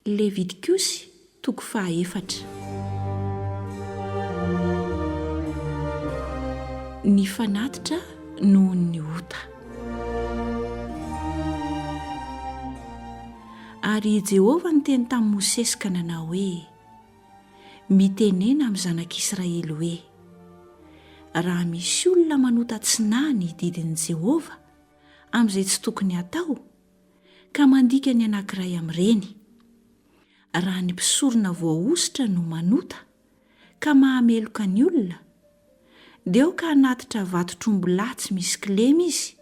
Levitikosy, toko faha efatra. Ny fanatitra noho ny ota. Ary i Jehovah niteny tamin'i Mosesy ka nanao hoe, Mitenena amin'ny zanak'Israely hoe, Raha misy olona manota tsy naha ny didin'i Jehovah amin'izay tsy tokony hatao, ka mandika ny anankiray amin'ireny. Raha ny mpisorona voahosotra no manota ka mahameloka ny olona, dia aoka hanatitra vatotr'ombilahy tsy misy kilema izy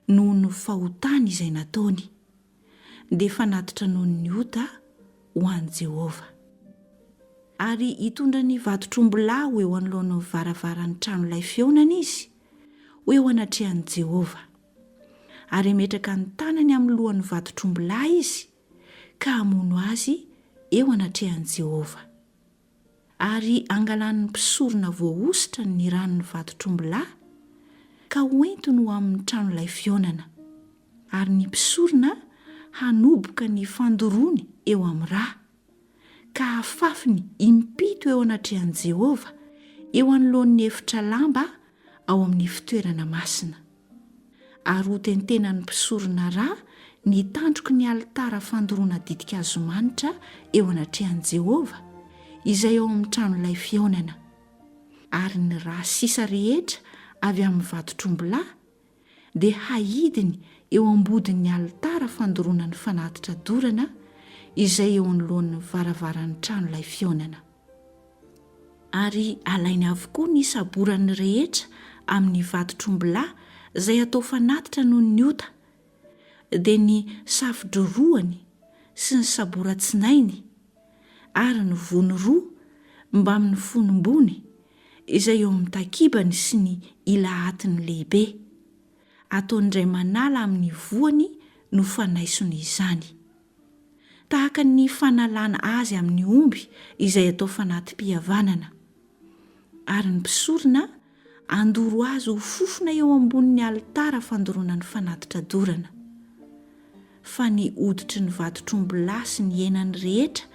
noho ny fahotany izay nataony, dia fanatitra noho ny ota ho an'i Jehovah. Ary hitondra ny vatotr'ombilahy ho eo anoloan'ny varavaran'ny tranolay fihaonana izy, ho eo anatrehan'i Jehovah. ary hametraka ny tanany amin'ny lohan'ny vatotr'ombilahy izy ka hamono azy eo anatrehan'i Jehovah. Ary hangalan'ny mpisorona voahosotra ny ran'ny vatotr'ombilahy ka hoentiny ho amin'ny tranolay fihaonana, ary ny mpisorona hanoboka ny fandoroany eo amin'ny ra. ka afafiny impito eo anatrehan'i Jehovah, eo anoloan'ny efitra lamba ao amin'ny fitoerana masina. Ary hotentenan'ny mpisorona ra ny tandroky ny alitara fandoroana ditin-kazo manitra eo anatrehan'i Jehovah, izay ao amin'ny tranolay fihaonana. Ary ny ra sisa rehetra avy amin'ny vatotr'ombilahy dia hahidiny eo ambodin'ny alitara fandoroana ny fanatitra dorana izay eo anoloan'ny varavaran'ny tranolay fihaonana. Ary alainy avokoa ny saborany rehetra amin'ny vatotr'ombilahy izay atao fanatitra noho ny ota, dia ny safo-dro roany sy ny saboran-tsinainy, ary ny vono roa mbamin'ny fonom-bony izay eo amin'ny takibany sy ny ilahatiny lehibe. Ataon'Iray manala amin'ny voany no fanaisony izany. Tahaka ny fanalana azy amin'ny omby izay atao fanati-pihavanana. Ary ny mpisorona andoro azy ho fofona eo ambonin'ny alitara fandoroana ny fanatitra dorana. fa ny hoditry ny vatotr'ombilahy sy ny henany rehetra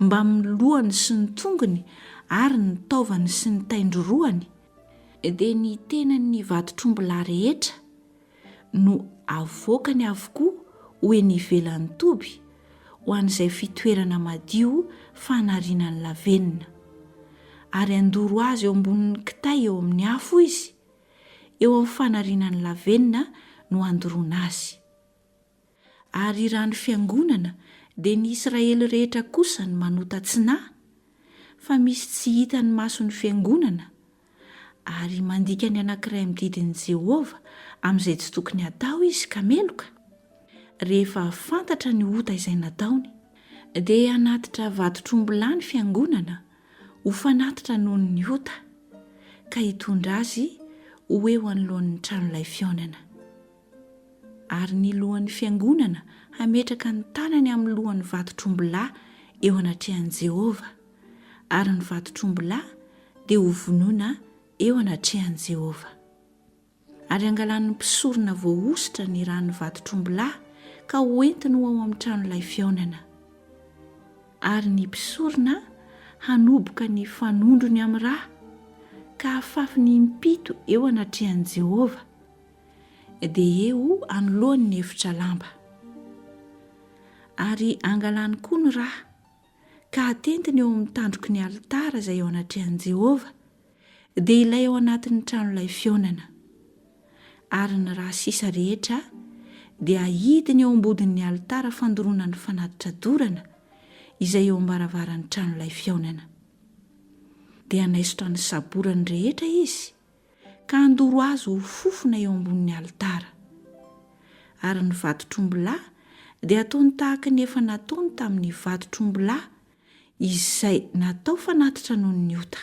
mbamin'ny lohany sy ny tongony ary ny taovany sy ny taindrorohany, dia ny tenan'ny vatotr'ombilahy rehetra, no avoakany avokoa ho eny ivelan'ny toby, ho an'izay fitoerana madio fanarinan'ny lavenona. Ary handoro azy eo ambonin'ny kitay eo amin'ny afo izy, eo amin'ny fanarinan'ny lavenona no handoroana azy. ary raha ny fiangonana dia ny Israely rehetra kosa no manota tsinahy fa misy tsy hitan'ny mason'ny fiangonana ary mandika ny anankiray amin'ny didin'i Jehovah amin'izay tsy tokony hatao izy ka meloka rehefa fantatra ny ota izay nataony dia hanatitra vatotr'ombilahy ny fiangonana ho fanatitra noho ny ota ka hitondra azy ho eo anoloan'ny tranolay fihaonana ary ny lohan'ny fiangonana hametraka ny tanany amin'ny lohan'ny vatotr'ombilahy eo anatrehan'i Jehovah, ary ny vatotr'ombilahy dia hovonoina eo anatrehan'i Jehovah. Ary hangalan'ny mpisorona voahosotra ny ran'ny vatotr'ombilahy ka hoentiny ho ao amin'ny tranolay fihaonana. Ary ny mpisorona hanoboka ny fanondrony amin'ny ra, ka hafafiny impito eo anatrehan'i Jehovah, dia eo anoloany ny efitra lamba. Ary angalany koa ny ra, ka hatentiny eo amin'ny tandroky ny alitara izay eo anatrehan'i Jehovah, dia ilay ao anatin'ny tranolay fihaonana. Ary ny ra sisa rehetra dia ahidiny eo am-bodin'ny alitara fandoroana ny fanatitra dorana izay eo am-baravaran'ny tranolay fihaonana. Dia hanaisotra ny saborany rehetra izy, ka handoro azy ho fofona eo ambonin'ny alitara. Ary ny vatotr'ombilahy dia ataony tahaka ny efa nataony tamin'ny vatotr'ombilahy izay natao fanatitra noho ny ota.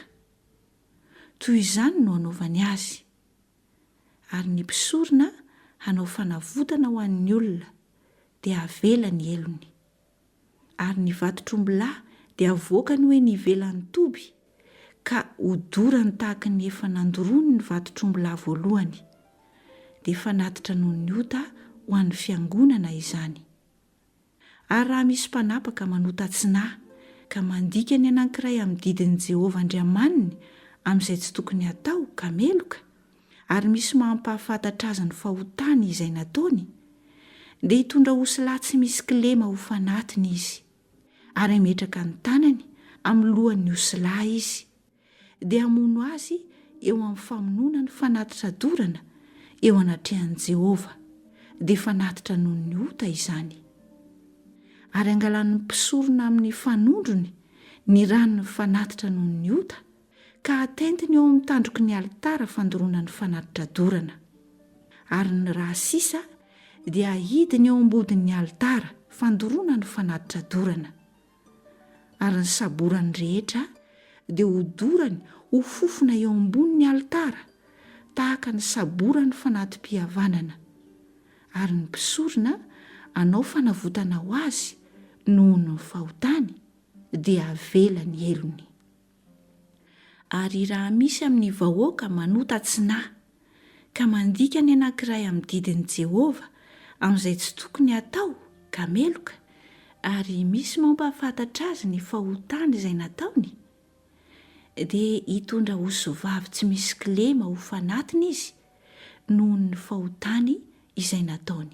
Toy izany no hanaovany azy. Ary ny mpisorona hanao fanavotana ho an'ny olona, dia havela ny helony. ary ny vatotr'ombilahy dia avoakany ho eny ivelan'ny toby, ka hodorany tahaka ny efa nandoroany ny vatotr'ombilahy voalohany. Dia fanatitra noho ny ota ho an'ny Fiangonana izany. Ary raha misy mpanapaka manota tsinahy ka mandika ny anankiray amin'ny didin'i Jehovah Andriamaniny amin'izay tsy tokony hatao ka meloka, ary misy mampahafantatra azy ny fahotany izay nataony, dia hitondra osilahy tsy misy kilema ho fanatiny izy, ary hametraka ny tanany amin'ny lohan'ny osilahy izy, dia hamono azy eo amin'ny famonoana ny fanatitra dorana eo anatrehan'i Jehovah, dia fanatitra noho ny ota izany. Ary angalan'ny mpisorona amin'ny fanondrony ny ran'ny fanatitra noho ny ota, ka atentiny eo amin'ny tandroky ny alitara fandoroana ny fanatitra dorana, ary ny ra sisa dia ahidiny eo am-bodin'ny alitara fandoroana ny fanatitra dorana, ary ny saborany rehetra dia hodorany ho fofona eo ambonin'ny alitara tahaka ny saboran'ny fanati-pihavanana, ary ny mpisorona anao fanavotana ho azy noho ny fahotany dia avela ny helony. Ary raha misy amin'ny vahoaka manota tsy na. Ka mandika ny anankiray amin'ny didin'i Jehovah amin'izay tsy tokony hatao, ka meloka, ary misy mampahafantatra azy ny fahotany izay nataony, dia hitondra osivavy tsy misy kilema ho fanatiny izy noho ny fahotany izay nataony.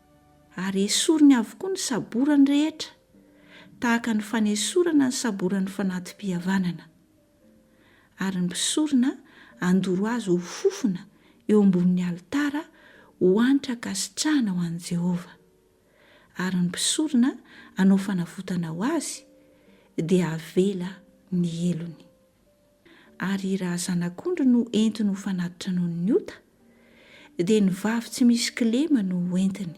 Ary esoriny avokoa ny saborany rehetra, tahaka ny fanesorana ny saboran'ny fanati-pihavanana. Ary ny mpisorona handoro azy ho fofona eo ambonin'ny alitara ho hanitra ankasitrahana ho an'i Jehovah. Ary ny mpisorona hanao fanavotana ho azy, dia havela ny helony. Ary raha zanak'ondry no entiny ho fanatitra noho ny ota, dia ny vavy tsy misy kilema no ho entiny.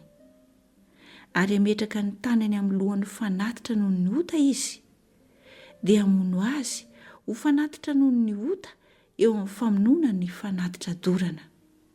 Ary hametraka ny tanany amin'ny lohan'ny fanatitra noho ny ota izy, dia hamono azy ho fanatitra noho ny ota eo amin'ny famonoana ny fanatitra dorana.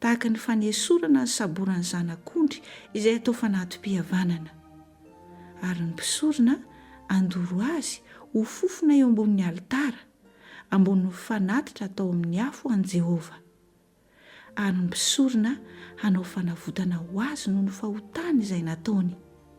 tahaka ny fanesorana ny saboran'ny zanak'ondry izay atao fanati-pihavanana. Ary ny mpisorona handoro azy ho fofona eo ambonin'ny alitara, ambonin'ny fanatitra atao amin'ny afo an'i Jehovah. Ary ny mpisorona hanao fanavotana ho azy noho ny fahotany izay nataony.